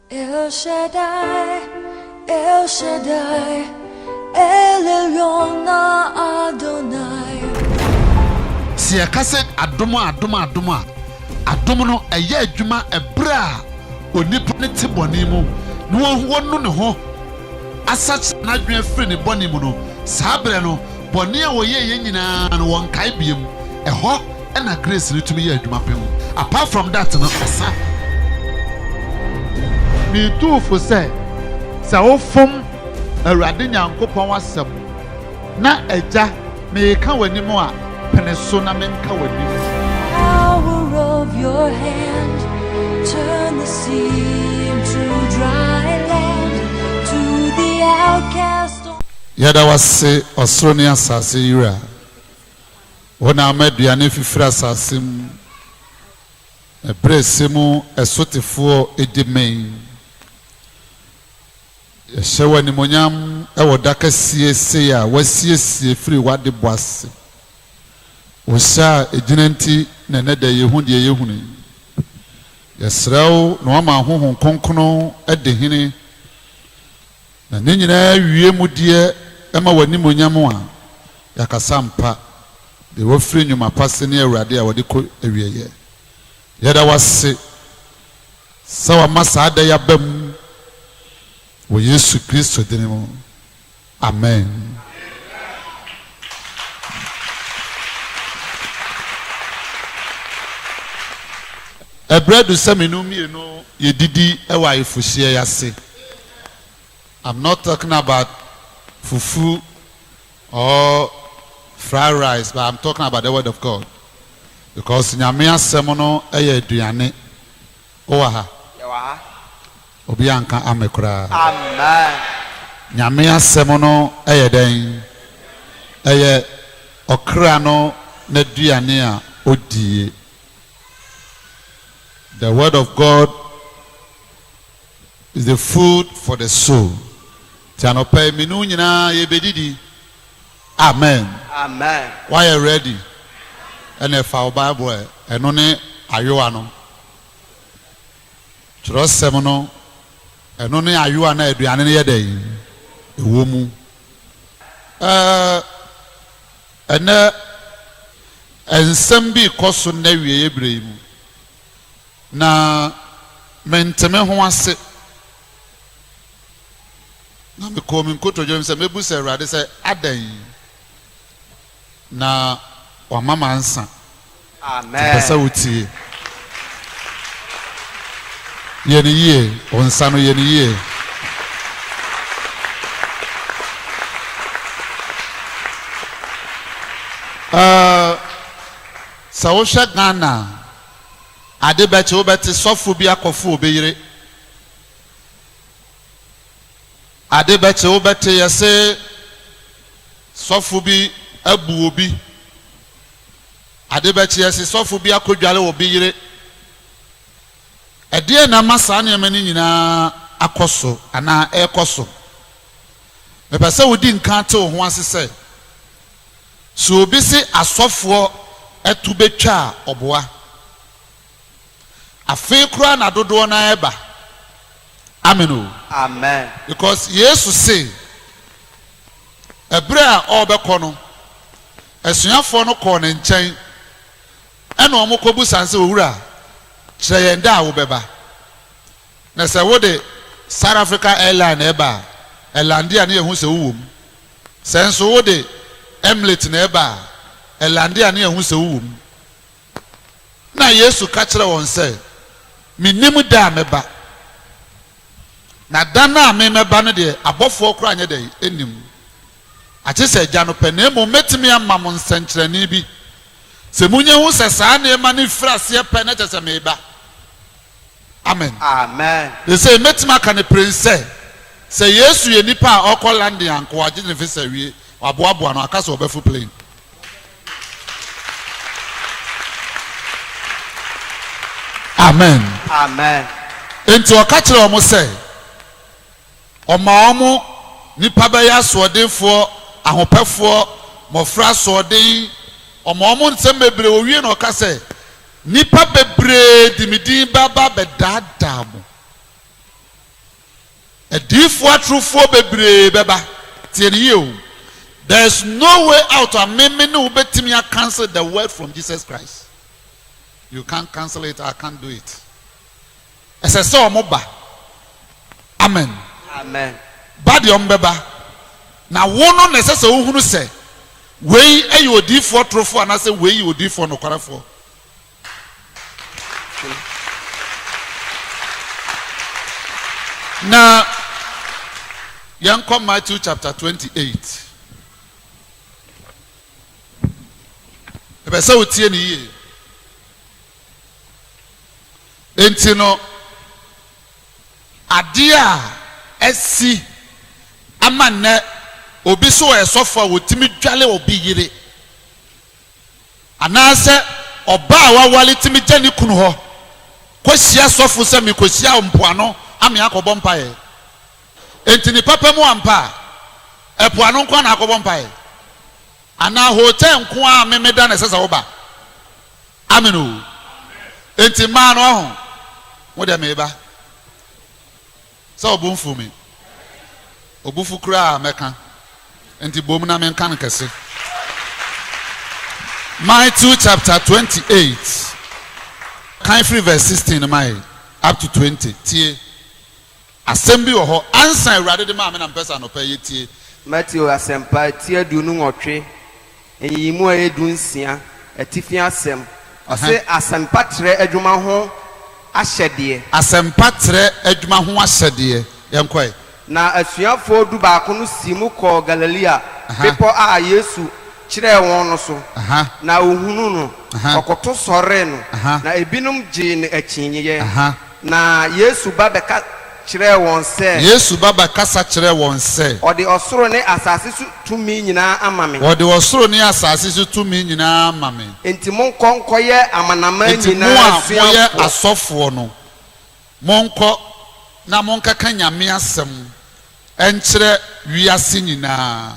El Shaddai, El Shaddai, El Elyon Adonai. Sɛ yɛka sɛ adom a, adom a, adom a, adom no ɛyɛ adwuma ɛberɛ a onipa no te bɔne mu na wahu wanu ne ho asakyera n'adwene afiri ne bɔne mu no, saa berɛ no bɔne a wɔyɛeɛ nyinaa no wɔnkae biom, ɛhɔ ɛna grace no tumi yɛ adwuma pɛ mu apart from that no asa. Metuu fo sɛ, sɛ wofom Awurade Nyankopɔn asɛm na Agya meka w'anim a, pene so na menka w'anim. Power of your hand, turn the sea into dry land to the outcast. Yɛda w'ase ɔsoro ne asase Wura. Wo na ama aduane fifiri asase mu, na berɛ a ɛsɛ mu ɛsotefoɔ di mee. Yɛhyɛ wo animuonyam wɔ da kɛseɛ sei a woasiesie firi w'adebɔ ase. Wo hyɛ a ɛgyina nti na ɛnɛ da yɛhu deɛ yɛhunu yi. Yɛsrɛ wo na woama Honhom Kronkron adi hene Na ne nyinaa wie mu deɛ ɛma w'animuonyam a, yɛakasa ampa, deɛ wɔfiri nnwuma pa se ne Awurade a wɔde kɔ awieɛ. Yɛda wo ase sɛ wama saa da yi aba mu, wɔ Yesu Kristo dini mu, amen. Ɛberɛ adu sɛ me no mmienu yɛdidi wɔ ayefohyeɛ yi ase. I'm not talking about fufu or fried rice but I'm talking about the word of God because Nyame asɛm no yɛ aduane. Wowɔ ha? Yɛwɔ ha. Obi anka ame koraa. Amen. Nyame asɛm no yɛ dɛn? Ɛyɛ ɔkra no n'aduane a odie. The word of God Is the food for the soul nti anɔpa yi me ne wo nyinaa yɛbɛdidi amen woayɛ ready ɛnɛ fa wo bible ɛ ɛno ne ayowa no twerɛsɛm no ɛno ne ayowa no a aduane no yɛ dɛ ɛwɔ mu ɛnɛ nsɛm bi kɔ so nnɛ wieɛ berɛ yi mu na mente me ho ase. Na mekɔɔ me nkotodwe mu sɛ mɛbisa Awurade sɛ, Adɛn na wama mansa? Nti pɛ sɛ wotie. Yɛ no yie, wo nsa no, yɛ no yie. Uh, Sɛ wohwɛ Ghana a, ade bɛkye wobɛte sɔfo bi akɔfo obi yere. Ade bɛkye wobɛte yɛse sɔfo bi abu obi. Ade bɛkye yɛse sɔfo bi akɔdware obi yere. Ɛdeɛn na ama saa nneɛma no nyinaa akɔ so anaa ɛrekɔ so? Mepɛ sɛ wodi nkan te wo ho ase sɛ, Sɛ obi se asɔfoɔ to bɛtwa a, ɔboa. Afe koraa na dodoɔ no ara ba. Amen o. Amen. Because Yesu se, ɛberɛ a ɔrebɛkɔ no, asuafoɔ no kɔɔ ne nkyɛn, ɛna wɔkɔbisa no sɛ, Owura, kyerɛ yɛn da a wobɛba. Na sɛ wode South Africa Airline na ɛba a, ɛlande a na yɛhu sɛ wowɔ mu. Sɛ nso wode Emlate na ɛba a, ɛlande a na yɛhu sɛ wowɔ mu. Na Yesu ka kyerɛ wɔn sɛ, Mennim da a mɛba, na da no a memɛba no deɛ, abɔfoɔ koraa nyɛ dɛn? Nnim, agye sɛ Agya no pɛ. Na mmom mɛtumi ama mo nsɛnkyerɛnne bi, sɛ monya hu sɛ saa nneɛma no firi aseɛ pɛ na kyerɛ sɛ mereba. Amen. Amen. Seesei mɛtumi aka no pirenn sɛ, sɛ Yesu yɛ nipa a ɔrekɔ London anko a, gye ne visa awie, wɔaboaboa no, aka sɛ ɔbɛfo plane. Amen. Amen. Enti ɔka kyerɛɛ wɔn sɛ, ɔma wɔn nipa bɛyɛ asoɔdenfoɔ, ahopɛfoɔ, mmɔfra asoɔden, ɔma wɔn nsɛm bebree, owie na ɔka sɛ, Nnipa bebree de me din bɛba abɛdaadaa mo. Adiyifoɔ atorofoɔ bebree bɛba. Tie no yie o. There is no way out a me me ne wo bɛtumi a cancel the word from Jesus Christ. You can't cancel it, I can't do it. Ɛsɛ sɛ ɔmo ba. Amen. Amen. Ba deɛ ɔmo bɛba. Na wo no na ɛsɛ sɛ wohunu sɛ wei yɛ odiyifoɔ torofoɔ anaasɛ wei yɛ odiyifoɔ nokwarefoɔ. Na yɛnkɔ Matthew chapter 28. Ɛbɛ sɛ wotie ne yie. Enti no, adeɛ a asi ama nnɛ obi sɛ ɔyɛ sɔfo a ɔtumi dwale obi yere, anaasɛ ɔbaa a waware tumi gya ne kunu hɔ kɔhyia sɔfo sɛ mekɔhyia wo mpoano ame akɔbɔ mpaeɛ. Enti ne papa mu ampa a, ɛpoano nko ara na akɔbɔ mpaeɛ? Anaa hotel nko ara ame meda na ɛsɛ sɛ woba? Amen o enti mmaa no waho mo deɛ meba sɛ ɔbo mfuu me ɔbufu koraa mɛka enti bom na menka no kɛse Matthew chapter 28 kan firi verse 16 no mae up to 20 tie. Asɛm bi wɔ hɔ ansa Awurade de maa me na mepɛ sɛ anɔpa yi yɛtie. Mateo Asɛmpa ti aduonu nwɔtwe, nyiyimu a ɛyɛ du nsia, atifi asɛm. Ɔse asɛmpa trɛ adwuma ho ahyɛdeɛ. Asɛmpa trɛ adwuma ho ahyɛdeɛ, yɛnkɔ ɛ. Na asuafoɔ du baako no siim kɔɔ Galilea bepɔ a Yesu kyerɛɛ wɔn no so, na ɔhunuu no, ɔkoto sɔree no, na ebinom gyee no akyinyeɛ. Na Yesu ba bɛka kyerɛɛ wɔn sɛ. Yesu ba bɛkasa kyerɛɛ wɔn sɛ. Ɔde ɔsoro ne asase so tumi nyinaa ama me. Ɔde ɔsoro ne asase so tumi nyinaa ama me. Enti monkɔ nkɔyɛ amanaman nyinaa asuafoɔ. Enti mo a moyɛ asɔfoɔ no, monkɔ na monkɛka Nyame asɛm nkyerɛ wiase nyinaa.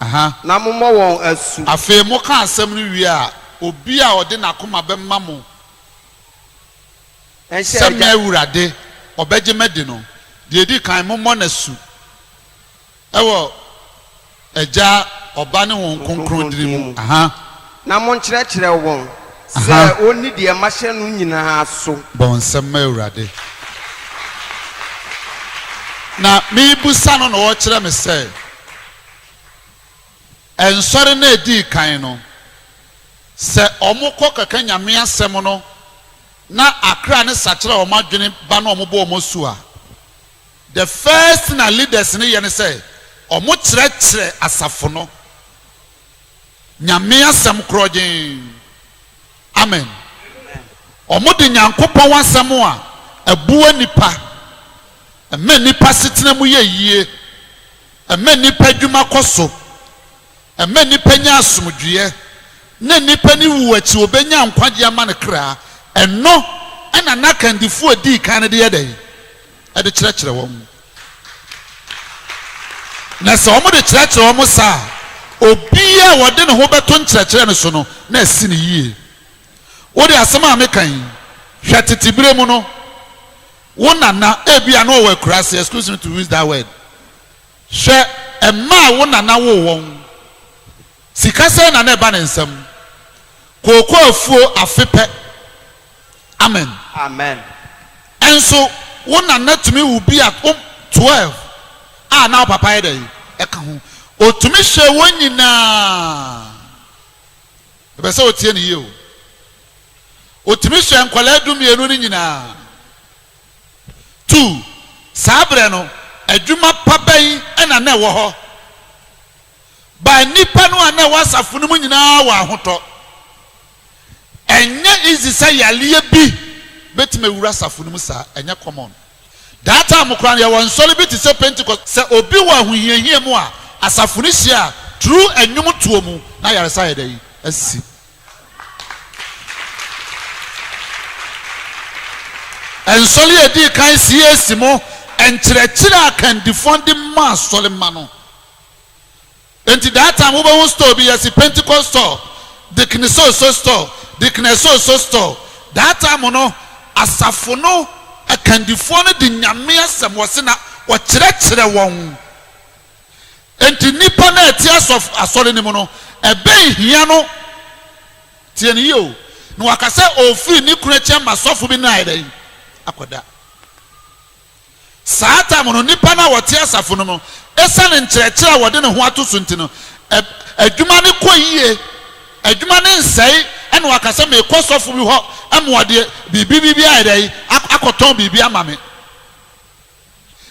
Aha. Na mommɔ wɔn asu. Afei moka asɛm no wie a, obi a ɔde n'akoma bɛma mo. Sɛ me Awurade, ɔbɛgye me adi no, deɛ ɛdi kan, mommɔ no asu wɔ Agya, Ɔba ne Honhom Kronkron din mu, na monkyerɛkyerɛ wɔn sɛ wɔnni deɛ mahyɛ no nyina ara so. Bɔ nsɛm ma Awurade. Na merebisa no na ɔrekyerɛ me sɛ. Nsɔre no a edii kan no, sɛ wɔkɔ kɛka Nyame asɛm no na akra no sakyera wɔn adwene ba na wɔbɔ wɔn asu a, the first thing a leaders no yɛ ne sɛ wɔkyerɛkyerɛ asafo no Nyame asɛm korɔgyenn. Amen. Wɔde Nyankopɔn asɛm a ɛboa nnipa, ɛma nnipa asetena mu yɛ yie. Ɛma nnipa adwuma kɔ so. Ɛma nnipa nya asomdwoeɛ, na nnipa no wu akyi wɔbɛnya nkwagyeɛ ama ne kra. Ɛno na na akandifoɔ a ɛdii kan no de yɛ dɛn? Ɛde kyerɛkyerɛ wɔn. Na sɛ wɔde kyerɛkyerɛ wɔn saa a, obiara a ɔde ne ho bɛto nkyerɛkyerɛ no so no, na asi no yie. Wode asɛm a meka yi hwɛ tete berɛ mu no. Wo nana ebia na ɔwɔ akuraase, excuse me to use that word. Hwɛ mma a wo nana woo wɔn. Sika sɛn na na ɛba ne nsam? Kooko afuo afe pɛ. Amen. Amen. Nso wo nana tumi wo bi a wo 12 a na wo papa yɛ dɛn? Ɛka ho. Ɔtumi hwɛɛ wɔn nyinaa. Ɛbɛ sɛ ɔtie ne yie o. Otumi soɛ nkwadaa dumienu no nyinaa. Two, saa berɛ no, adwuma pa bɛn na na ɛwɔ hɔ? But nnipa no a na ɛwɔ asafo no mu nyinaa wɔ ahotɔ. Ɛnyɛ easy sɛ yareɛ bi bɛtumi awura asafo no mu saa, ɛnyɛ common. That time koraa no, yɛwɔ nsɔre bi te sɛ Pentecost, sɛ obi wɔ ahohiahia mu a, asafo no hyia a, through nnwomtoɔ mu, na ayaresa ayɛ dɛn? Asi. Nsɔre a edii kan CAC. mu nkyerɛkyerɛ a kandifoɔ de ma asɔremma no nti that time wobɛhu store bi yɛsi Pentecost store Dickney so so store Dickney so so store that time no asafo no akandifoɔ no de Nyame asɛm wɔsi na wɔkyerɛkyerɛ wɔn. Enti nnipa no a ɛte asɔf asɔre no mu no, ɛbɛn hia no, tie no yie o, na waka sɛ ɔrefiri ne kunu nkyɛn ma sɔfo bi no ayɛ dɛn? Akɔda. Saa tam no, nnipa no a wɔte asafo no mu, ɛsiane nkyerɛkyerɛ a wɔde ne ho ato so nti no, ɛ, adwuma no kɔ yie, adwuma no nsɛe, ɛna waka sɛ, Mekɔ sɔfo bi hɔ ma ɔde biribi biribi ayɛ dɛn? Akɔtɔn biribi ama me.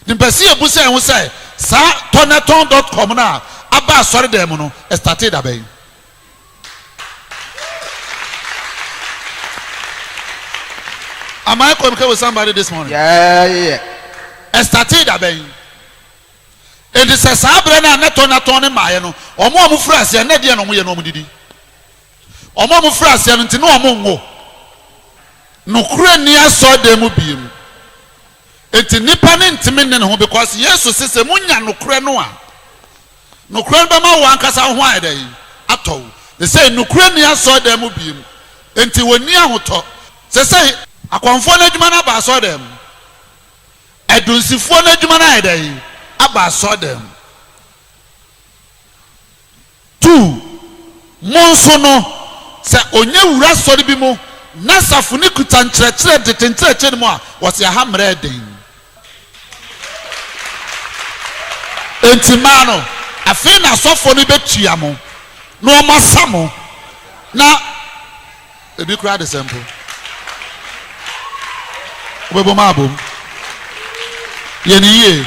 Nimpɛsee busae ho sɛ, Saa Tɔnɛtɔn dɔt kɔm no a aba asɔredan mu no, ɛstartee da bɛn? Am I communicating with somebody this morning? Yeah. Ɛstartee da bɛn? Enti sɛ saa berɛ no a na Tɔnɛtɔn no mmaeɛ no, wɔn a wɔfiri aseɛ na ɛdeɛ na wɔyɛ na wɔdidi. Wɔn a wɔfiri aseɛ no nti na wɔnwo. Nokorɛ nni asɔredan mu biem. Enti nipa no ntumi nne ne ho because Yesu se sɛ monya nokorɛ no a, nokorɛ no bɛma wo ankasa wo ho ayɛ dɛn? Atɔ wo. Sesei nokorɛ nni asɔredan mu biem, enti wɔnni ahotɔ. Sesei akɔmfoɔ no adwuma no aba asɔredan mu, adunsifoɔ no adwuma no ayɛ dɛn? Aba asɔredan mu. Tu, Mo nso no, sɛ ɔnya wura asɔre bi mu na safo no kuta nkyerɛkyerɛ dede nkyerɛkyerɛ no mu a, wɔse aha mmara yɛ den. Enti mmaa no, afei na asɔfoɔ no bɛtua mo na wɔasa mo na. Ebi koraa de sɛ mpo wobɛbɔ mu abom. Yɛ ne yie.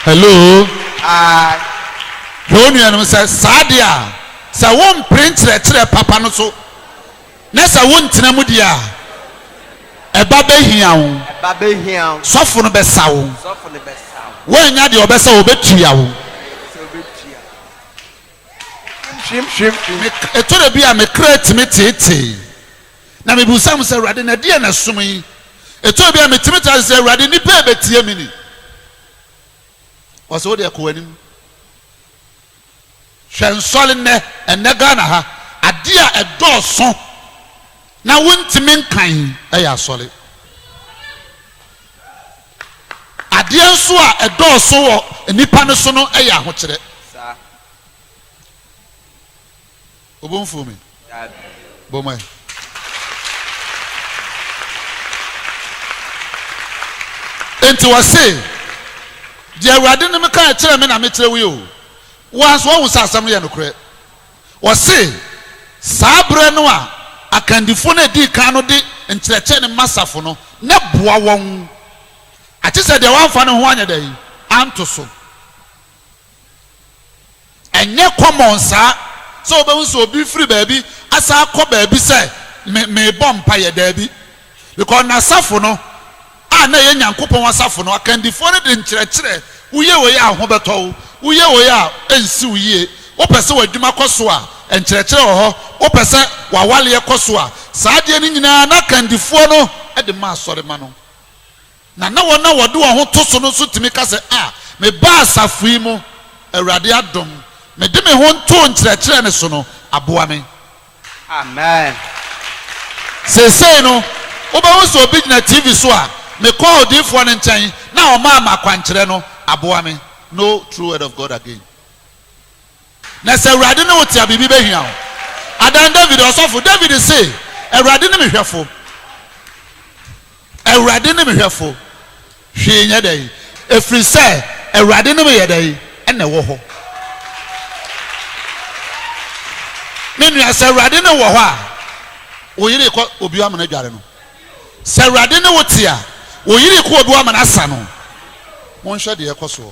Hello. Ae. Hwɛ wo nuanom sɛ saa deɛ a sɛ wompere nkyerɛkyerɛ papa no so na sɛ wontena mu deɛ a ɛba bɛhia wo. Ɛba bɛhia wo. Sɔfo no bɛsa wo. Sɔfo no bɛsa wo. Woannya deɛ ɔbɛsa wo, ɔbɛtua wo. Ɛtɔ da bi a me kra tumi teetee, na mibisa me sɛ, Awurade, na ɛdeɛn na ɛsom yi? Ɛtɔ da bi a metumi tra ase sɛ, Awurade, nnipa yi bɛtie me ni? Ɔsɛ wo deɛ kɔ w'anim. Hwɛ nsɔre nnɛ, ɛnnɛ Ghana ha, adeɛ a ɛdɔɔso na wontumi nkan yɛ asɔre. Adeɛ nso a ɛdɔɔso wɔ nnipa no so no yɛ ahokyerɛ. Obo nfuo me. Bɔ mɔ yɛ. nti wɔse deɛ awurade no meka kyerɛ me na mekyerɛ wo yi o woa nso wahu sɛ asɛm no yɛ nokorɛ Ɔse, saa berɛ no a akandifoɔ no a ɛdii kan no de nkyerɛkyerɛ no ma safo no, na ɛboa wɔn. Agye sɛ deɛ wamfa ne ho anyɛ dɛn? Anto so. Ɛnyɛ kɔmɔn saa sɛ wobɛhu sɛ obi firi baabi asan akɔ baabi sɛ, Me, merebɔ mpaeɛ. Daabi. Bikɔs n'asafo no, a na ɛyɛ Nyankopɔn asafo no akandifoɔ no de nkyerɛkyerɛ, Woyɛ wei a, ho bɛtɔ wo, woyɛ wei a, ɛrensi wo yie, wopɛ sɛ w'adwuma kɔ so a, nkyerɛkyerɛ wɔ hɔ, wopɛ sɛ w'awareɛ kɔ so a, saa adeɛ no nyinaa na akandifoɔ no de ma asɔremma no. Na na wɔn a wɔde wɔn ho to so no nso tumi ka sɛ, A, mebaa asafo yi mu, Awurade adom, mede me ho ntoo nkyerɛkyerɛ no so no aboa me. Amen. Seesei no, wobɛhu sɛ obi gyina TV so a, mekɔɔ odiyifoɔ no nkyɛn na ɔmaa me akwankyerɛ no aboa me. No true word of God again. Na sɛ Awurade ne wo te a, biribi bɛhia wo. Adan David, ɔsɔfo David se, Awurade ne me hwɛfo. Awurade ne me hwɛfo, hwee nyɛ dɛn. Ɛfiri sɛ Awurade ne me yɛ dɛn? Ɛna ɛwɔ hɔ. Me nua, sɛ Awurade ne wo wɔ hɔ a, wo yere rekɔ obi hɔ ama no adware no. Sɛ Awurade ne wo te a, wo yere rekɔ obi hɔ ama no asa no. Monhwɛ deɛ ɛrekɔ soɔ.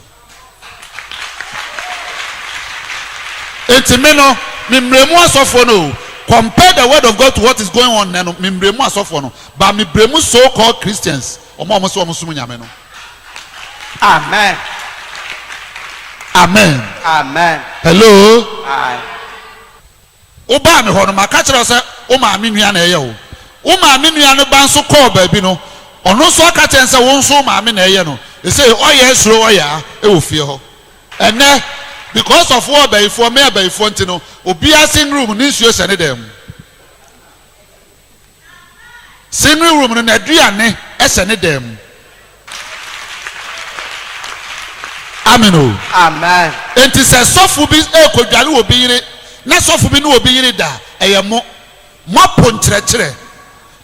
Enti me no, me mmerɛ mu asɔfoɔ no oo, compare the word of God to what is going on nnɛ no, me mmerɛ mu asɔfoɔ no, but me brɛ mu so called Christians, wɔn a wɔse wɔn som Nyame no. Amen. Amen. Amen. Hello. Aye. Wobaa me hɔ no, maka akyerɛ wo sɛ wo maame nua na ɛyɛ wo. Wo maame nua no ba nso kɔɔ baabi no, ɔno nso aka akyerɛ no sɛ wo nso wo maame na ɛyɛ no. Ɛsei ɔyaa suro ɔyaa wɔ fie hɔ. Ɛnnɛ, because of wo ɔbayifoɔ, me abayifoɔ nti no, obiara singrom ne nsuo hyɛ ne dan mu. Singing room no n'aduane sɛ ne dan mu. Amen o. Amen. Enti sɛ sɔfo bi rekodware obi yere na sɔfo bi ne obi yere da a, ɛyɛ mo. Moapo nkyerɛkyerɛ.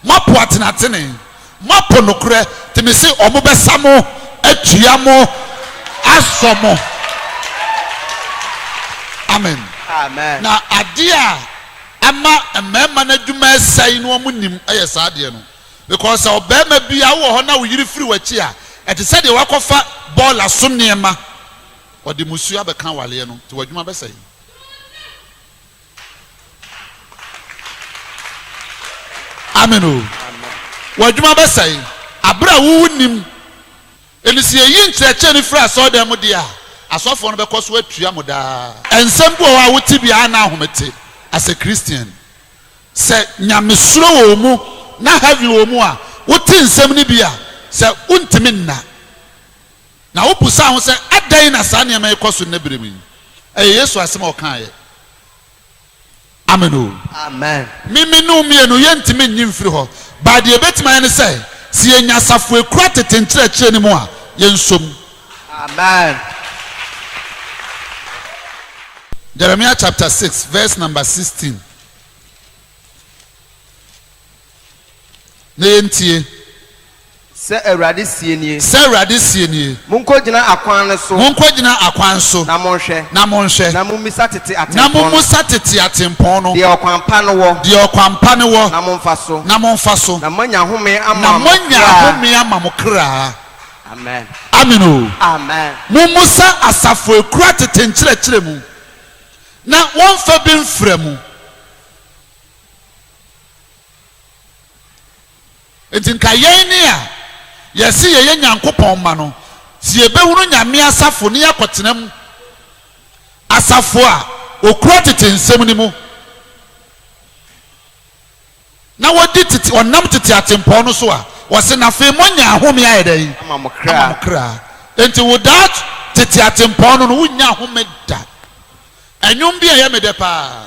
Moapo atenatene. Moapo nokorɛ, nti mese wɔbɛsa mo atua mo asɔ mo. Amen. Na adeɛ a ama mmarima no adwuma resɛe no wɔnim yɛ saa adeɛ no. Because sɛ ɔbarima bi a wowɔ hɔ na wo yere firi w'akyi a, ɛte sɛ deɛ woakɔfa bɔɔla so nneɛma, ɔde mmusuo abɛka awareɛ no, nti w'adwuma bɛsɛe. Amen o. W'adwuma bɛsɛe bere a wo nnim. Enti sɛ yɛyi nkyerɛkyerɛ no firi asɔredan mu deɛ a, asɔfoɔ no bɛkɔ so atua mo daa. Nsɛm bi wɔ hɔ a wo te bi a na ahomete as a Christian. Sɛ nyamesuro wɔ wo mu na heaven wɔ wo mu a, wo te nsɛm no bi a, sɛ wo ntumi nna. Na wobisaa ho sɛ, Adɛn na saa nneɛma yi kɔ so nnɛ bere mu yi? Ɛyɛ Yesu asɛm a ɔkaeɛ. Amen oo. Amen. Me me ne wo mmienu yɛntumi nnye mfiri hɔ, but deɛ yɛbɛtumi ayɛ ne sɛ, sɛ yɛnya asafo a ɛkura tete nkyerɛkyerɛ no mu a, yɛnsɔ mu. Amen. Jeremiah chapter six verse number sixteen. Na yɛntie. Sɛ Awurade seɛ nie. Sɛ Awurade seɛ nie. Monkɔgyina akwan no so. Monkɔgyina akwan so. Na monhwɛ. Na monhwɛ. Na mommisa tete atempɔn no. Na mommusa tete atempɔn no. Deɛ ɔkwan pa no wɔ. Deɛ ɔkwan pa no wɔ. Na momfa so. Na momfa so. Na moanya ahome ama mo kra. Na moanya ahome ama mo kra. Amen. Amen o. Amen. Mommusa asafo a ɛkura tete nkyerɛkyerɛ mu, na wɔmfa bi mfra mu. Enti nka yɛn ne a yɛse yɛyɛ Nyankopɔn mma no, se yɛbɛhunu Nyame asafo ne yɛakɔtena mu, asafo a wɔkura tete nsem no mu, na wɔdi tete, wɔnam tete atempɔn no so a, wɔse, na afei moanya ahome ayɛ dɛn? Ama mo kra. Ama mo kra. Enti wo daa tete atempɔn no no, wonnya ahome da. Ɛnwom bi a ɛyɛ me dɛ paa.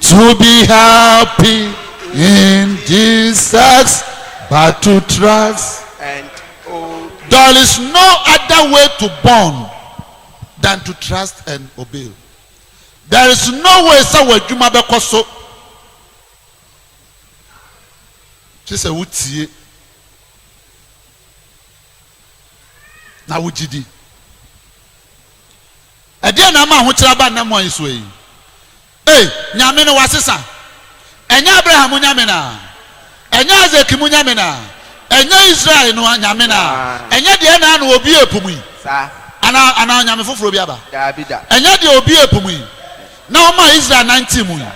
To be happy in Jesus but to trust and obey. There is no other way to born than to trust and obey. There is no way sɛ w'adwuma bɛkɔ so gye sɛ wotie na wogye di. Ɛdeɛn na ama ahokyerɛ aba nna mu ayesoa yi? Ei, Nyame no wasesa! Ɛnyɛ Abraham mo Nyame no a? Ɛnyɛ Isaac mo Nyame no a? Ɛnyɛ Israel no Nyame no a? Ɛnyɛ deɛ ɛnaa na ɔbuee po mu yi? Anaa, anaa onyame foforɔ bi aba? Ɛnyɛ deɛ ɔbuee po mu yi, na ɔmaa Israel nantee mu yi,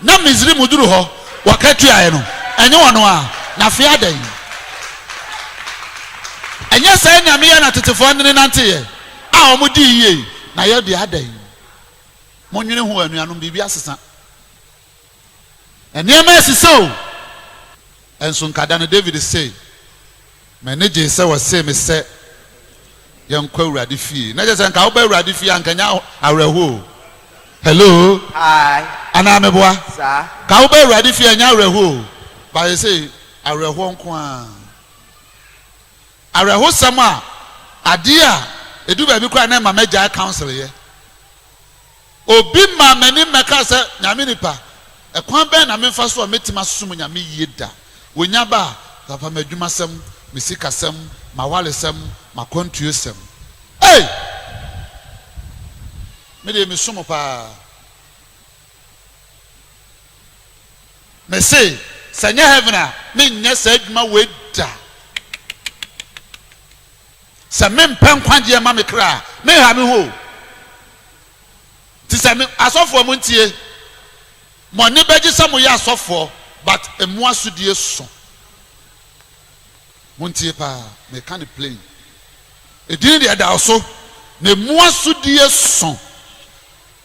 na Misrim duru hɔ wɔka tuaeɛ no, ɛnyɛ ɔno a? Na fee adɛn? Ɛnyɛ saa Nyame yi a na tetefoɔ nene nanteeɛ? A wɔn di yie na yɛ deɛ adɛn. Mo nwene ho anuanom biribi asesa nneɛma asisa o ɛnso nka da no David se m'ani gyee sɛ wɔsee me sɛ yɛnkɔ awurade fie na kyɛ sɛ nka woba awurade fie a nka nya awerɛho o hello anaa meboa ka woba awurade fie a nya awerɛho o baayɛ sɛ awerɛhoɔ nko a Awerɛhosɛm a, adeɛ a ɛduru baabi koraa a na ɛma mɛgyae council yɛ. Obi maa m'ani mmɛkaa sɛ, Nyame nipa, ɛkwan bɛn na memfa so a mɛtumi asom Nyame yie da? Wɔnya ba a, papa m'adwumasɛm, me sikasɛm, m'awaresɛm, m'akwantuosɛm. Ei! Me deɛ mesu mo paa. Me se sɛ ɛnyɛ heaven a menyɛ saa adwuma wei da. Sɛ mempɛ nkwagyeɛ ma me kra a menha me ho o. Nti sɛ me asɔfoɔ mo ntie, mo ani bɛgye sɛ moyɛ asɔfoɔ but emu asodie so. Montie paa, meka no plain. Edin deɛ ɛda so na emu asodie so.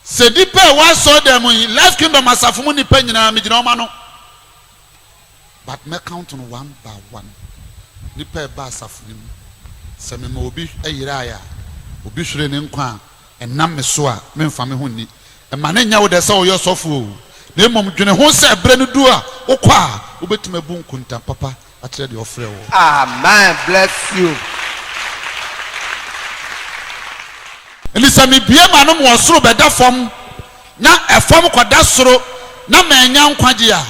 Sɛ nnipa a ɛwɔ asɔredan mu yi, Life Kingdom asafo mu nnipa nyinaa, megyina wɔn ano. But mɛ count no one by one. Nnipa a ɛba asafo no mu, sɛ mema obi yerae a, obi hwere ne nkwa a, ɛnam me so a, memfa me ho nni. Mma no nyɛ wo dɛ sɛ woyɛ ɔsɔfo o, na mmom dwene ho sɛ berɛ no du a, wokɔ a, wobɛtumi abu nkontam papa. akyerɛ deɛ ɔfrɛ wo. Amen bless you. Enti sɛ mebue m'anom wɔ soro bɛda fam na ɛfam kɔda soro na mannya nkwagye a,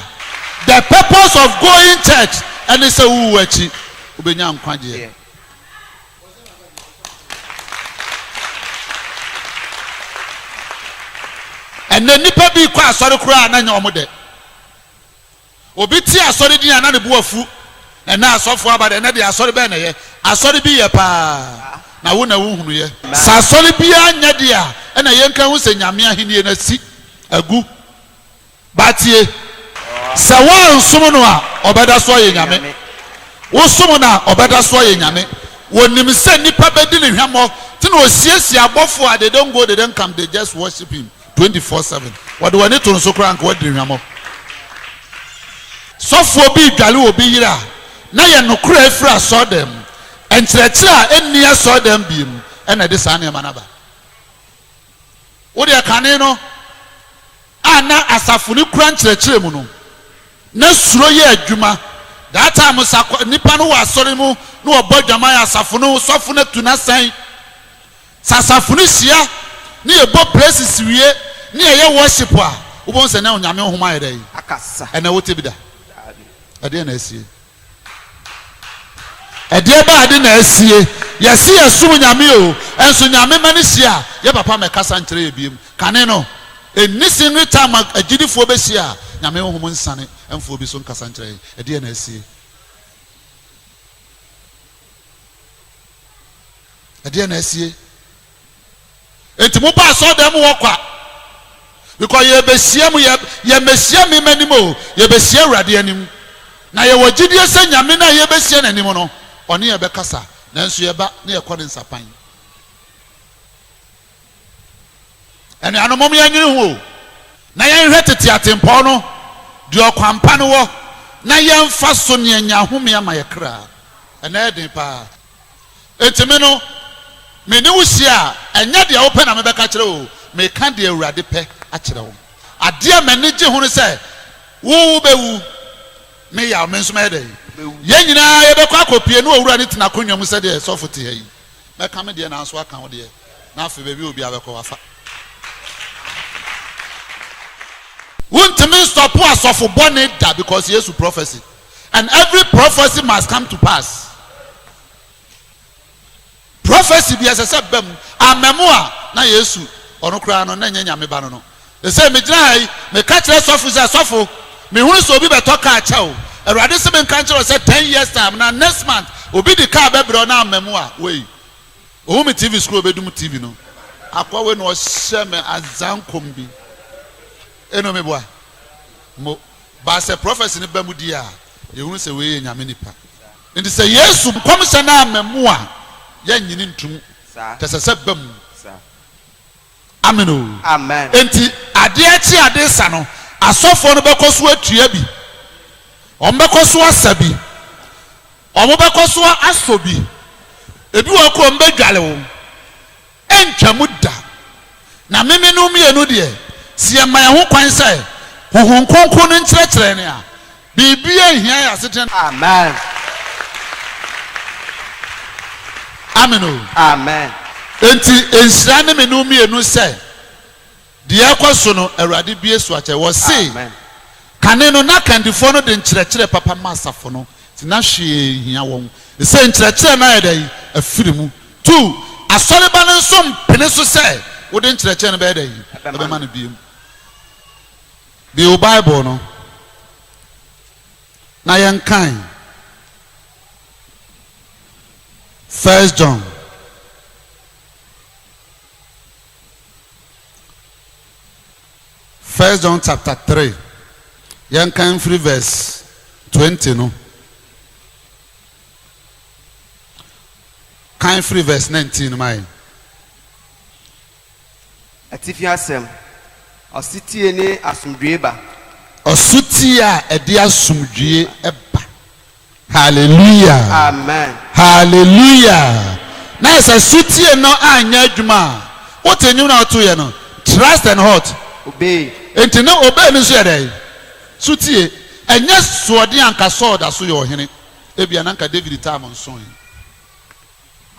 the purpose of going church ɛne sɛ wowu akyi wobɛnya nkwagyeɛ. Ɛnnɛ nnipa bi kɔ asɔre koraa na nyɛ wɔn dɛ. Obi te asɔre din a na ne bo afu. Ɛnnɛ asɔfo aba de, ɛnnɛ deɛ asɔre bɛn na ɛyɛ? Asɔre bi yɛ paa, na wo na wonhunuiɛ. Sɛ asɔre biara nyɛ deɛ a, ɛnna yɛnka nhu sɛ Nyame ahennie no asi agu. Ba tie, sɛ woansom no a, ɔbɛda so ayɛ Nyame. Wosom no a, ɔbɛda so ayɛ Nyame. Ɔnim sɛ nnipa bɛdi no hwammɔ, nti na ɔsiesie abɔfoɔ a they don't go, they don't come, they just worship him. twenty four seven wɔde w'ani to no so koraa nka woadiri hwammɔ. Sɔfoɔ bi redwale obi yere a na yɛ nokorɛ afiri asɔredan mu, nkyerɛkyerɛ a ɛnni asɔredan bie mu na ɛde saa nneɛma no aba. Wo deɛ kane no a na asafo no kura nkyerɛkyerɛ mu no, na suro yɛ adwuma. That time sa nnipa no wɔ asɔre mu na wɔbɔ adwaman asafo no sɔfo no atu n'asan. Sɛ asafo no hyia na yɛbɔ praises wie na yɛyɛ worship a, wobɛhu sɛ ɛnnɛ Onyame honhom ayɛ dɛn? Ɛnnɛ wote bi da? Ɛdeɛ na asie? Ɛdeɛ bɛn ade na asie? Yɛse yɛsom Nyame o, nso Nyame mma no hyia a, yɛ papa mmɛkasa nkyerɛ yɛ biom. Kane no, ɛnni singly time a agyidifoɔ bɛhyia a Nyame honhom nsane mfa obi so nkasa nkyerɛ yɛn. Ɛdeɛ na asie? ɛdeɛ na asie enti mo ba asɔ dɛm wɔ kwa because yɛbɛhyia mu yɛmɛhyia me m'anim o yɛbɛhyia awurade anim na yɛwɔ gyidie sɛ nyame no a yɛbɛhyia n'anim no ɔne yɛbɛkasa nanso yɛba na yɛkɔ ne nsapan Anuanom, mom yɛnnwene ho o, na yɛnhwɛ tete atempɔn no, deɛ ɔkwan pa no wɔ, na yɛmfa so na yɛanya ahome ama yɛn kra. Ɛnnɛ yɛ den paa. Enti me no, me ne wo hyia a, ɛnyɛ deɛ wopɛ na mebɛka akyerɛ wo o, meka deɛ Awurade pɛ akyerɛ wo. Adeɛ a m'ani gye ho ne sɛ, wo wobɛwu, me yaw, me nso mɛyɛ dɛn? Yɛn nyinaa yɛbɛkɔ akɔpue ne Owura no te n'akonnwa mu sɛdeɛ sɔfo te ha yi. Mɛka me deɛ na nso aka wo deɛ na afei baabi a obiara bɛkɔ wafa. Wontumi nstɔpo asɔfo bɔne da because Yesu prophecy and every prophecy must come to pass. Prophecy bi ɛsɛ sɛ ba mu. Amma mu a na Yesu ɔno koraa no na ɛnyɛ Nyame ba no no. Ese, Megyina ha yi, meka kyerɛ sɔfo yi sɛ, 'Sɔfo, mehunu sɛ obi bɛtɔ kaa kyɛ wo. Awurade se menka nkyerɛ wo sɛ, ten years time, anaa next month, obi de kaa bɛbrɛ wo na amma mu a, woi, ohu me TV screen, obedum TV no. Akoa wei na ɔhyɛ me adzankɔm bi. Eno meboa mo. But sɛ prophecy no ba mu die a, yɛhunu sɛ wei yɛ Nyame nipa. Nti sɛ Yesu nkɔmhyɛ no amma mu a, yɛnnye no ntom. Kyɛ sɛ sɛ ba mu. Amen o. Amen. Enti adeɛ kye a ade sa no, asɔfoɔ no bɛkɔ so atua bi, wɔbɛkɔ so asa bi, wɔbɛkɔ so asɔ bi, ebi wɔ hɔ koraa wɔbɛdware wo. Ɛntwam da. Na memenom mmienu deɛ, sɛ yɛma yɛn ho kwan sɛ Honhom Kronkron no nkyerɛkyerɛ yɛn a, Biribiara nhia yɛn asetena no. Amen. Amen o. Amen. Enti nhyira ne me ne wo mmienu sɛ deɛ ɛrekɔ so no Awurade bue so akyɛ. Wɔse Amen. kane no na kandifoɔ no de nkyerɛkyerɛ papa ma asafo no nti na hwee nhia wɔn. Sesei nkyerɛkyerɛ no ayɛ dɛn? Afiri mu. Tu, Asɔreba no nso mpene so sɛ wode nkyerɛkyerɛ no bɛyɛ dɛn? Ɛbɛma no biem. Bio, Bible no, na yɛnkan First John First John chapter three yɛnkan mfiri verse twenty no kan firi verse nineteen no ma yɛn. Atifi asɛm, Ɔsetie ne asomdwoe ba. Ɔsotie a ɛde asomdwoe ba. Hallelujah! Amen! Hallelujah! Na sɛ sotie no anyɛ adwuma a, wote nnwom no a wɔto yɛ no, Trust and what? Obey. Enti ne obey no nso yɛ dɛn? Sotie. Ɛnyɛ soɔden a anka Saul da so yɛ ɔhene, ebia na anka David tam nsõ he.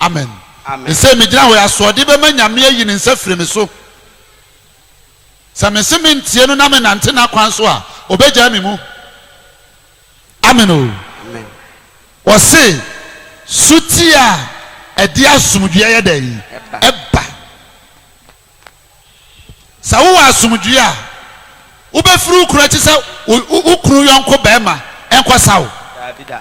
Amen. Amen. Sɛ megyina hɔ yi, asoɔden bɛma Nyame ayi ne nsa firi me so. Sɛ mese mentie no na menante n'akwan so a, ɔbɛgyaa me mu. Amen o. Amen. Wɔse sotie a ɛde asomdwoeɛ yɛ dɛn? Ɛba. Sɛ wowɔ asomdwoeɛ a, wobɛfiri wo kunu akyi sɛ wo kunu yɔnko barima nkɔsa wo? Daabi da.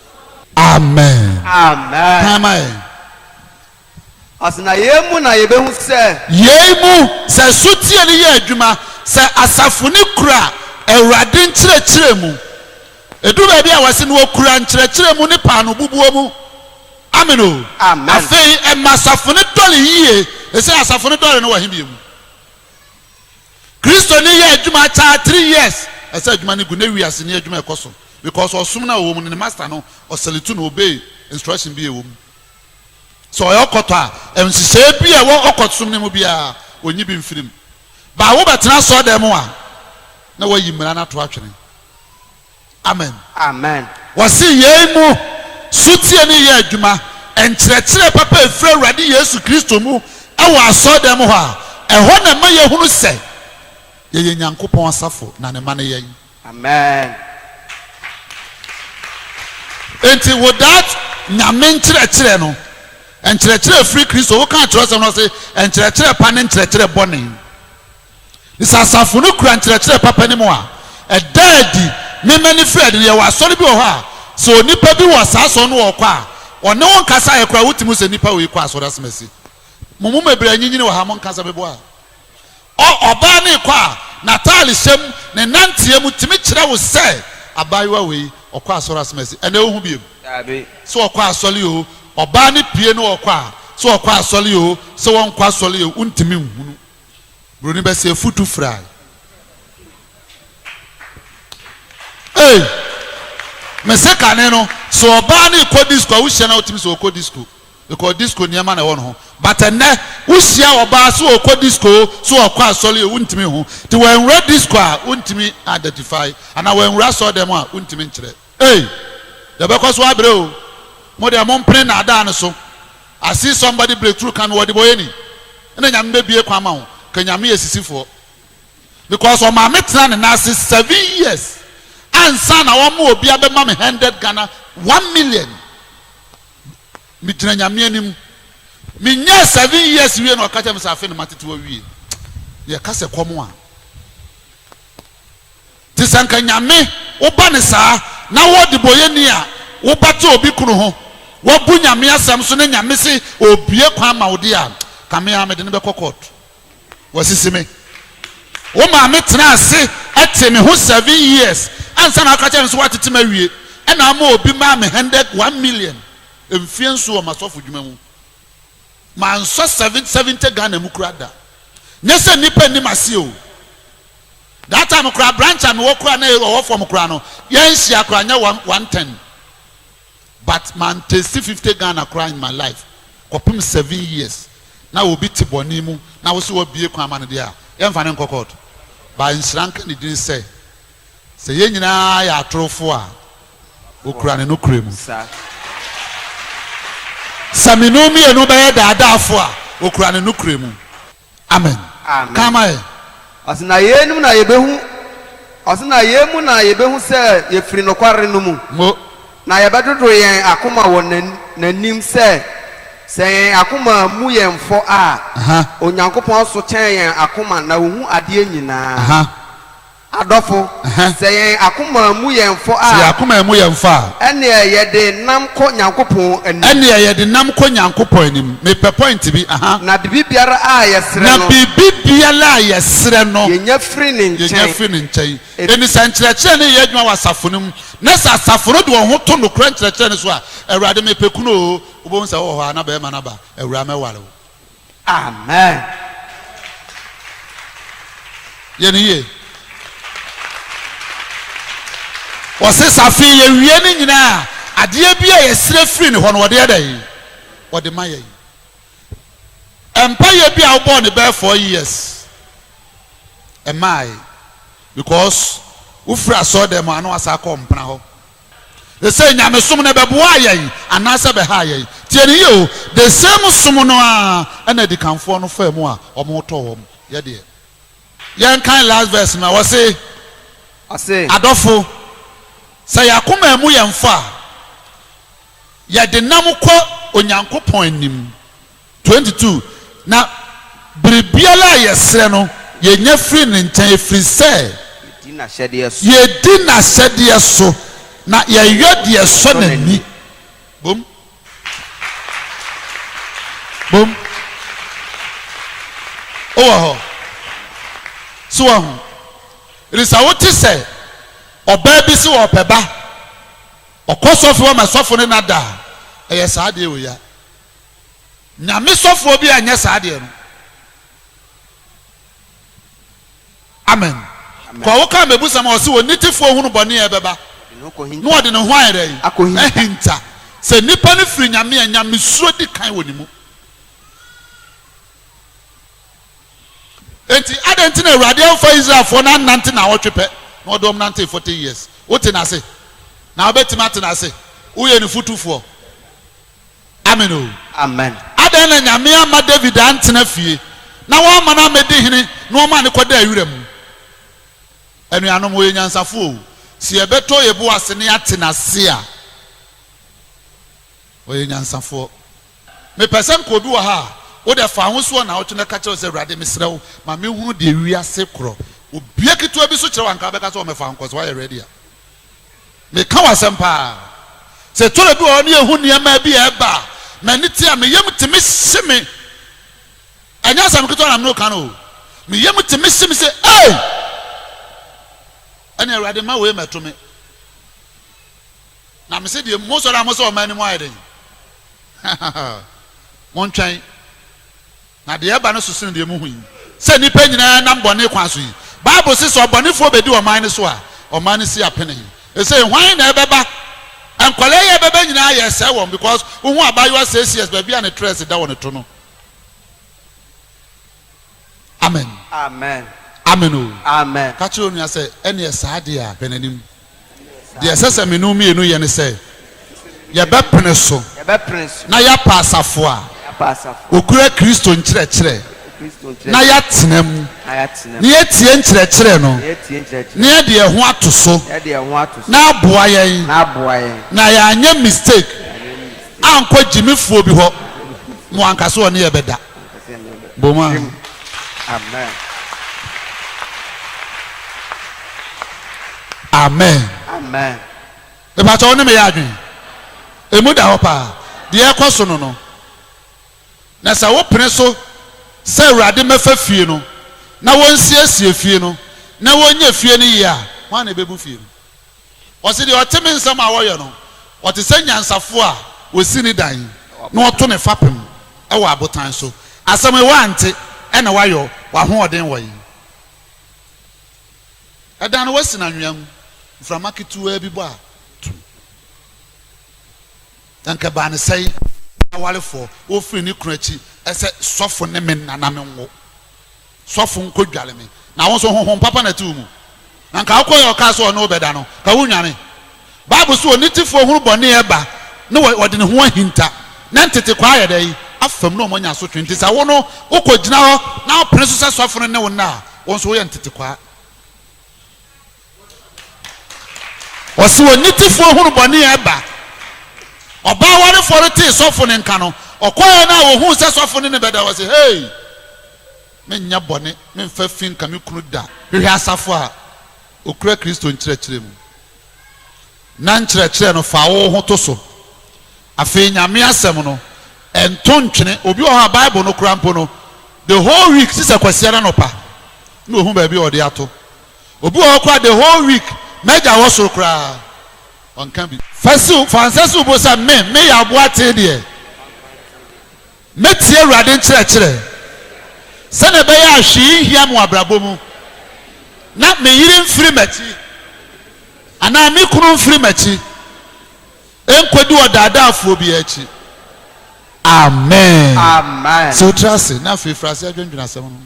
Amen. Amen. Kan ma yɛn. Ɔse na yei mu na yɛbɛhu sɛ. Yei mu, sɛ sotie no yɛ adwuma, sɛ asafo no kura Awurade nkyerɛkyerɛ mu. Ɛduru baabi a wɔse na wɔkura nkyerɛkyerɛ mu ne paano bubuo mu. Amen o. Amen. Afei ɛma asafo no dɔre yie. Ɛsei asafo no dɔre no wɔ he bie mu? Kristoni yɛ adwuma akyɛa three years ɛsɛ adwuma no gu ne wiase ni adwuma ɛkɔ so because ɔsom no a ɔwɔ mu no ne master no ɔsɛletu no obey instruction bi a ɛwɔ mu sɛ ɔyɛ ɔkɔtɔ a nhyehyɛɛ bi a ɛwɔ ɔkɔtsom no mu biara ɔnyi bi mfiri mu baa wobɛtena asɔɔdan mu a na wayi mmara no ato atwene Amen. Amen. Wɔse yei mu sotie ne yɛ adwuma nkyerɛkyerɛ papa a ɛfiri Awurade Yesu Kristo mu wɔ asɔredan mu hɔ a, ɛhɔ na ɛma yɛhunu sɛ yɛyɛ Nyankopɔn asafo na Ne mma ne yɛn. Amen. Enti without Nyame nkyerɛkyerɛ no, nkyerɛkyerɛ a ɛfiri Kristo, wokaa kyerɛwsɛm no ɔse nkyerɛkyerɛ pa ne nkyerɛkyerɛ bɔne. Na sɛ asafo no kura nkyerɛkyerɛ papa no mu a, ɛda adi. Me, Manfred, no, yɛwɔ asɔre bi wɔ hɔ a, sɛ onipa bi wɔ saa asɔre no ɔkɔ a, ɔne wo nkasaeɛ koraa, wotumi hu sɛ nipa wei kɔ asɔre asɛmasi. Mo mu bebree anyinyini wɔ ha, monka sɛ meboa a. Ɔ, ɔbaa no rekɔ a, n'ataare hyɛ mu, ne nnanteɛ mu tumi kyerɛ wo sɛ abaayewa wei, ɔkɔ asɔre asɛmasi. Ɛnnɛ wohu bio? Dabi. Sɛ ɔkɔ asɔre oo, ɔbaa no pue na ɔkɔ a, sɛ ɔkɔ asɔre oo, sɛ ɔnkɔ asɔre oo, wontumi nhunu. Buroni bɛ sɛ futu fry. Ei! Me se kane no, sɛ ɔbaa no rekɔ disco a, wohyia no a wotumi sɛ ɔkɔ disco because disco nneɛma na ɛwɔ ne ho. But ɛnnɛ, wohyia ɔbaa sɛ ɔkɔ disco o, sɛ ɔkɔ asɔre o, wontumi hu. Nti wanwura disco a, wontumi identify. Anaa wanwura asɔre dɛm a, wontumi nkyerɛ. Ei! Yɛbɛkɔ so abrɛ o. Mo deɛ mompene nnaadaa no so. I see somebody breakthrough ka me wɔ ɔdebɔyɛni. Ɛna Nyame bɛbue kwan ama wo. Ka Nyame yɛ sisifoɔ. Because ɔmaa me tenaa ne nan ase seven years ansa na ɔma obi abɛma me hundred Ghana one million. Me gyina Nyame anim. Me nyɛɛ seven years wie na ɔka kyerɛ me sɛ afei na matete wawie. Yɛka sɛ kɔm a. Te sɛ anka Nyame wo ba ne saa na wo ɔdebɔyɛni a wo ba te obi kunu ho wabu Nyame asɛm so na Nyame se obue kwan ma wo deɛ a ka me ara mede no bɛkɔ court wasisi me Wo maame tenaa ase tee me ho seven years ansa na aka kyerɛ no sɛ watete me awie ɛna ama obi maa me hundred one million mfeɛ nso wɔ m'asɔfo dwuma mu mansɔ seven seventy Ghana mu kura da nyɛ sɛ nnipa nni m'aseɛ o That time koraa branch a mewɔ koraa na yɛ ɔwɔ fam koraa no yɛnhyia koraa nyɛ one one ten but man taste fifty Ghana koraa in my life kɔpem seven years na obi te bɔne mu na wose wabue kwan ama no deɛ a yɛnfa no nkɔ court but nhyira nka ne din sɛ sɛ yɛn nyinaa yɛ atorofo a okura ne nokorɛ mu sɛ me no mmienu bɛyɛ daadaafo a okura ne nokorɛ mu Amen. Amen. Kan ma yɛn. Ɔse na yei nom na yɛbɛhu Ɔse na yei mu na yɛbɛhu sɛ yɛfiri nokware no mu. Mo. Na yɛbɛdodoro yɛn akoma wɔ N'anim sɛ, sɛ yɛn akoma mmu yɛn fɔ a, Onyankopɔn so kyɛn yɛn akoma na Ohu adeɛ nyinaa. Adɔfo, sɛ yɛn akoma mmu yɛn fɔ a. Sɛ yɛn akoma ammu yɛn fɔ a. Ɛnneɛ yɛde nam kɔ Nyankopɔn anim. Ɛnneɛ yɛde nam kɔ Nyankopɔn anim. Mepɛ point bi, aha. Na biribiara a yɛsrɛ no. Na biribiara a yɛsrɛ no. Yɛnya firi Ne nkyɛn. Yɛnya firi Ne nkyɛn. Enti sɛ nkyerɛkyerɛ no reyɛ adwuma wɔ asafo no mu, na sɛ asafo no de wɔn ho to nokorɛ nkyerɛkyerɛ no so a, Awurade, mepɛ kunu o, wobɛhu sɛ wowɔ hɔ a, na barima no aba, Awuraa, mɛware wo. Amen! Yɛ no yie. Wɔse sɛ afei yɛwie ne nyinaa a, adeɛ bi a yɛsrɛ firi ne hɔ no, ɔde yɛ dɛn? Ɔde ma yɛn. Mpaeɛ bi a wobɔɔ no bɛyɛ four years, ɛmaae because wofiri asɔɔdan mu a na wasan akɔ mpena hɔ. Ese nyamesom no ɛbɛboaa yɛn anaasɛ ɛbɛhaa yɛn? Tie no yie o, the same som no ara ɛna adikanfoɔ no faa mu a wɔtɔɔ wɔn. Yɛ deɛ, yɛnkan last verse no a, ɔse, Ɔse. Adɔfo, sɛ yɛn akoma ammu yɛn fɔ a, yɛdenam kɔ Onyankopɔn anim. Twenty two, Na biribiara a yɛsrɛ no, yɛnya firi Ne nkyɛn, ɛfiri sɛ. Yɛdi N'ahyɛdeɛ so. Yɛdi N'ahyɛdeɛ so, na yɛyɔ deɛ ɛsɔ N'ani. Bom. Bom. Wowɔ hɔ? So woahu? Ɛfiri sɛ wote sɛ ɔbaa bi se ɔɔpɛ ba, ɔkɔ sɔfo hɔ ma sɔfo ne no ada a, ɛyɛ saa deɛ wei a. Nyame sɔfoɔ bi anyɛ saa deɛ no. Amen. Kɔ wo ka mebusɛm a ɔse onitefoɔ hunu bɔne a ɛbɛba na ɔde ne ho ayɛ dɛn? Ahinta. Sɛ nnipa no firi Nyame a, Nyamesuro di kan wɔ ne mu. Enti adɛn nti na Awurade amfa Israelfoɔ no annante naawɔtwe pɛ na ɔde wɔn nantee forty years? Wote no ase? Na wobɛtumi ate no ase? Woyɛ ne fotufoɔ? Amen o. Amen. Adɛn na Nyame amma David anntena fie, na woamma no ammɛdi hene na wɔmaa no kɔdaa wira mu? Anuanom, wɔyɛ nyansafo o, sɛ yɛbɛtɔ yɛ bo ase na yɛate n'ase a, wɔyɛ nyansafoɔ. Mepɛ sɛ nka obi wɔ ha a, wodɛ fa ho so wɔ naawɔtwe na ka kyerɛ wo sɛ, Awurade, mesrɛ wo, ma me nhunu deɛ wiase korɔ. Obia ketewa bi so kyerɛ wo a, nka wobɛka sɛ, ɔmɛfa wo nkɔ, sɛ woayɛ ready a. Meka w'asɛm paa. Sɛ tɔrɔ bi wɔ hɔ ne yɛhu nneɛma bi a ɛba a, m'ani te a me yam te me hye me. Ɛnyɛ asɛm ketewa na me ne wo ka no o. Me yam te me hye me sɛ ei! Ɛne Awurade mma wei mmɛto me. Na me se deɛ mo sɔre a mo sɛ ɔman no mu ayɛ den. Montwɛn. Na deɛ ɛba no so sene deɛ mohu yi, sɛ nnipa nyinaa nam bɔne kwan so yi. Bible se sɛ ɔbɔnefoɔ bɛdi ɔman no so a, ɔman no si apene. Ɛsei hwan na ɛbɛba? Nkwadaa yi a ɛbɛba nyinaa yɛresɛe wɔn because wohu abaayewa six years baabi a ne tress da wɔ ne to no. Amen. Amen. Amen o. Amen. Ka kyerɛ onua sɛ, ɛneɛ saa deɛ a, hwɛ n'anim. Deɛ ɛsɛ sɛ me ne wo mmienu yɛ ne sɛ, yɛbɛpene so na yɛapa asafo a wɔkura Kristo nkyerɛkyerɛ na yɛatena mu, na yɛatie nkyerɛkyerɛ no, na yɛde yɛn ho ato so na aboa yɛn, na yɛanyɛ mistake ankɔ gyimifoɔ bi hɔ. Mo anka sɛ ɔne yɛn bɛda? Boma. Amen. Amen. Mepatɔ wo ne meyɛ adwene. Emu da hɔ paa. Deɛ ɛkɔ so no no. Na sɛ wopene so sɛ Awurade mmɛfa fie no na wɔnsiesie fie no na wɔnyɛ fie no yie a, hwan na ɛbɛbu fie no? Ɔse deɛ ɔte me nsɛm a wɔyɛ no, ɔte sɛ nyansafoɔ a ɔsi ne dan na ɔto ne fapem wɔ abotan so. Asɛm yi woante, ɛna woayɔ w'ahoɔden wɔ he? Ɛdan no woasi no anwea mu, mframa ketewaa bi bɔ a, tumm. Anka ɛbaa no sɛe. Awarefoɔ, wɔfiri ne kunu akyi sɛ sɔfo ne me nana me nwo. sɔfo nkodware me, na wo nso honhom papa na ɛte wo mu. Na nka wokɔyɛ a ɔkaa sɛ ɔne wo bɛda no, nka wonnwane. Bible se onitefoɔ hunu bɔne a ɛba na ɔde ne ho ahinta, na ntetekwaa yɛ dɛn? afam na wɔanya asotwe. Nti sɛ wo no wokɔgyina hɔ na wopene so sɛ sɔfo no ne wo nna a, wo nso woyɛ ntetekwaa. Ɔse onitefoɔ hunu bɔne a ɛba. Ɔbaa warefoɔ no tee sɔfo no nka no, ɔkɔeɛ no a ɔhuu sɛ sɔfo no ne bɛda, ɔse, Hei! Menyɛ bɔne, memfa fi nka me kunu da. Hwehwɛ asafo a ɔkura Kristo nkyerɛkyerɛ mu, na nkyerɛkyerɛ no fa wo ho to so. Afei Nyame asɛm no, ɛnto ntwene. Obi wɔ hɔ a Bible no koraa mpo no, the whole week, gye sɛ Kwasiada anɔpa na ɔhu baabi a ɔde ato. Obi wɔ hɔ koraa the whole week m'agya wɔ soro koraa ɔnka bi. Fa si wo fa nsa si wo bo sɛ me me yɛ aboatee deɛ mɛtie Awurade nkyerɛkyerɛ sɛdeɛ ɛbɛyɛ a hwee renhia me wɔ abrabɔ mu na me yere mfiri m'akyi anaa me kunu mfiri m'akyi nkɔdi ɔdaadaafoɔ biara akyi. Amen. Amen. Si wo tiri ase na afei firi aseɛ dwendwene asɛm no ho.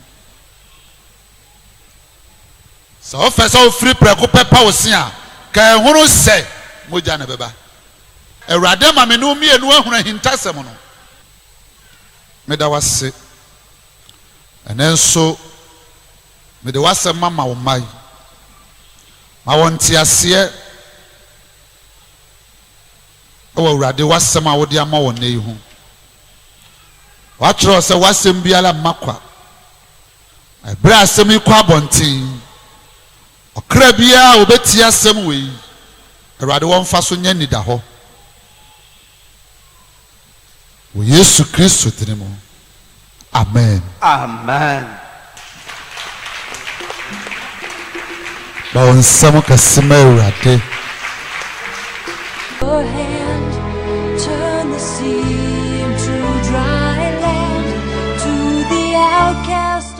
Sɛ wopɛ sɛ wofiri prɛko pɛ pa wo se a, kae hunu sɛ mogya na ɛbɛba. Awurade ama me ne wo mmienu ahunu ahintasɛm no. Meda wo ase. Ɛnnɛ nso, mede w'asɛm mama wo mma yi. Ma wɔn nteaseɛ wɔ Awurade w'asɛm a wode ama wɔn nnɛ yi ho. Woatwerɛ sɛ w'asɛm biara mma kwa. Bere a asɛm yi kɔ abɔnten, ɔkra biara a obetie asɛm wei, Awurade wɔ mfaso nya nidahɔ wɔ Yesu Kristo dini mu. Amen. Amen. Bɔ wo nsɛm kɛse ma Awurade. Your hand turn the sea into dry land to the outcast.